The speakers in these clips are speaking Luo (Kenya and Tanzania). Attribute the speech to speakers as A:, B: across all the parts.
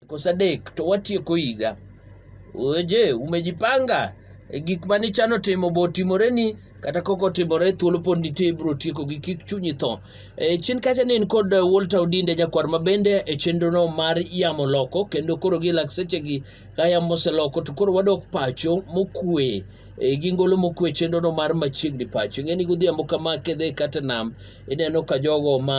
A: Siku sadek to watieko higa. Oje, umejipanga e gik mane chano timo bo timore ni kata koko timore thuolo pod nitie ibro tieko gi kik chunyi tho. E, chien kacha ne in kod Walter Odinde jakwar ma bende e chenro no mar yamo loko kendo koro gi lak seche gi ka yamo oseloko to koro wadok pacho mokwe e, gi ngolo mokwe chenro no mar machiegni pacho. Ing'e ni godhiambo kama kidhi kata nam ineno ka jogo ma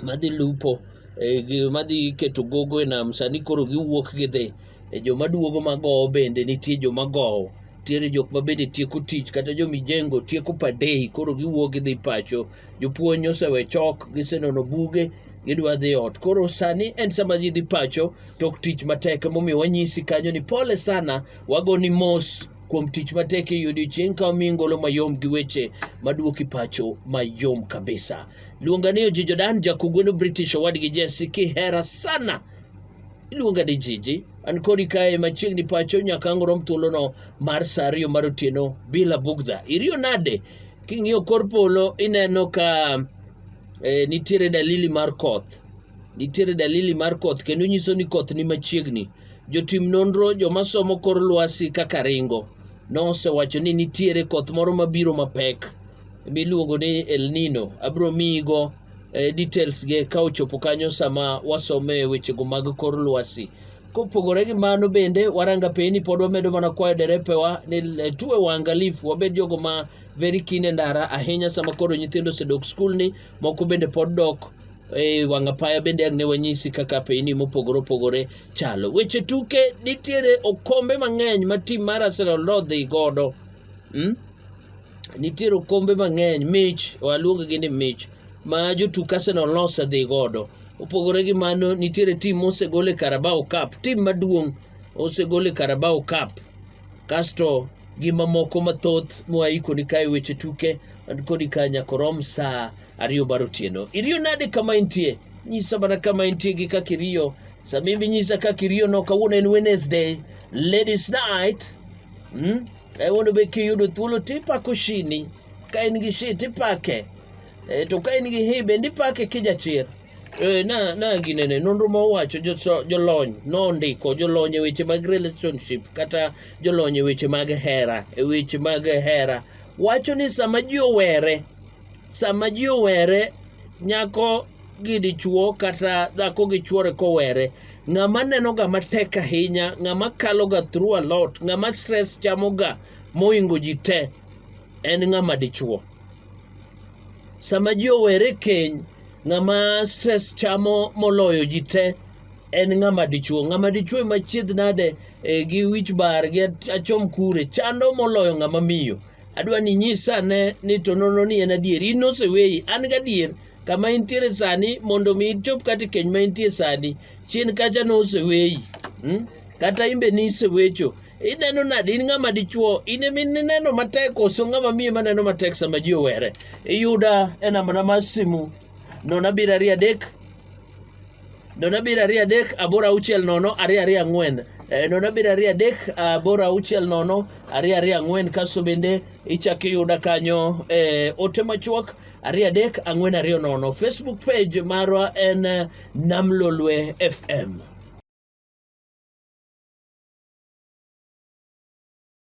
A: madhi lupo e, gima dhi keto gogo e nam sani koro giwuok gidhi e joma duogo magowo bende nitie joma gowo nitiere jok ma bende tieko tich kata jomijengo tieko padei koro giwuok gidhi pacho jopuonj osewe chok gisenono buge gidwa dhi ot koro sani en sama ji dhi pacho tok tich matek momiyo wanyisi kanyo ni pole sana wagoni mos kuom tich matek e odiechieng' ka omi ngolo mayom gi weche maduoki pacho mayom kabisa Iluonga ni Oji Jordan, jakugweno British owadgi Jesse kihera sana. Iluonga ni Jiji, an kodi kae machiegni pacho nyaka ang' rom thuolono mar sa ariyo mar otieno bila bugdha. Iriyo nade? King'iyo kor polo ineno ka eh, nitiere dalili mar koth. Nitiere dalili mar koth kendo nyiso ni koth ni machiegni. Jotim nonro joma somo kor lwasi kaka ringo nosewacho ni nitiere koth moro mabiro mapek. miluongo ni El Nino. Abro miyigo eh, details ge ka ochopo kanyo sama wasome wechego mag kor lwasi. Kopogore gi mano bende waranga peni pod wamedo mana kwayo derepewa ni eh, tuwe waangalifu wabed jogo ma very keen e ndara ahinya sama koro nyithindo osedok skul ni moko bende pod dok e wanga paya bende ang' ne wanyisi kaka peni mopogore opogore chalo weche tuke nitiere okombe mang'eny ma tim mar arsenal nodhi godo mm? nitiere okombe mang'eny mich waluongo gi ni mich ma jotuk Arsenal nose dhi godo. Opogore gi mano nitiere tim mosegol e Carabao Cup, tim maduong' osegol e Carabao Cup. Kasto gi mamoko mathoth mwaiko ni kae weche tuke an kodi ka nyakorom saa ariyo mar otieno. Iriyo nade kama intie? Nyisa mana kama intie gi kaka iriyo. Samimbi nyisa kaka iriyo no kawuono en Wednesday, Ladies Night. Hmm? E, mondo be kiyudo thuolo tipako shini ka in gi shi tipake e, to ka in gi hi bende ipake kijachir e, na, na ginene nonro ma owacho jolony nondiko jolony e weche mag relationship kata jolony e weche mag hera e weche mag hera wacho ni sama ji owere sama ji owere nyako gi dichuo kata dhako gi chuore kowere ng'ama nenoga matek ahinya ng'ama kaloga through a lot ng'ama stress chamoga moingo ji te en ng'ama dichuo sama ji owere keny ng'ama stress chamo moloyo ji te en ng'ama dichuo ng'ama dichuo ema chiedh nade e, gi wich bar gi achom kure chando moloyo ng'ama miyo adwa ni nyisa ne ni to nono ni en adier in noseweyi an gadier kama intiere sani mondo mi ichop kata keny ma intie sani chien kacha ne oseweyi hmm? kata imbe ni isewecho ineno nade in ng'ama dichuo in ema ineno matek koso ng'ama miyo ema neno matek sama ji owere iyuda e nambana mar simu nono abiro ariyo adek nono abiro ariyo adek aboro auchiel nono ariyo ariyo ang'wen Eh, nono abiro ariyo adek ah, bora auchiel nono ariyo ariyo ang'wen kaso bende ichak iyuda kanyo eh, ote machuok ariyo adek ang'wen ariyo nono facebook page marwa en eh, namlolwe fm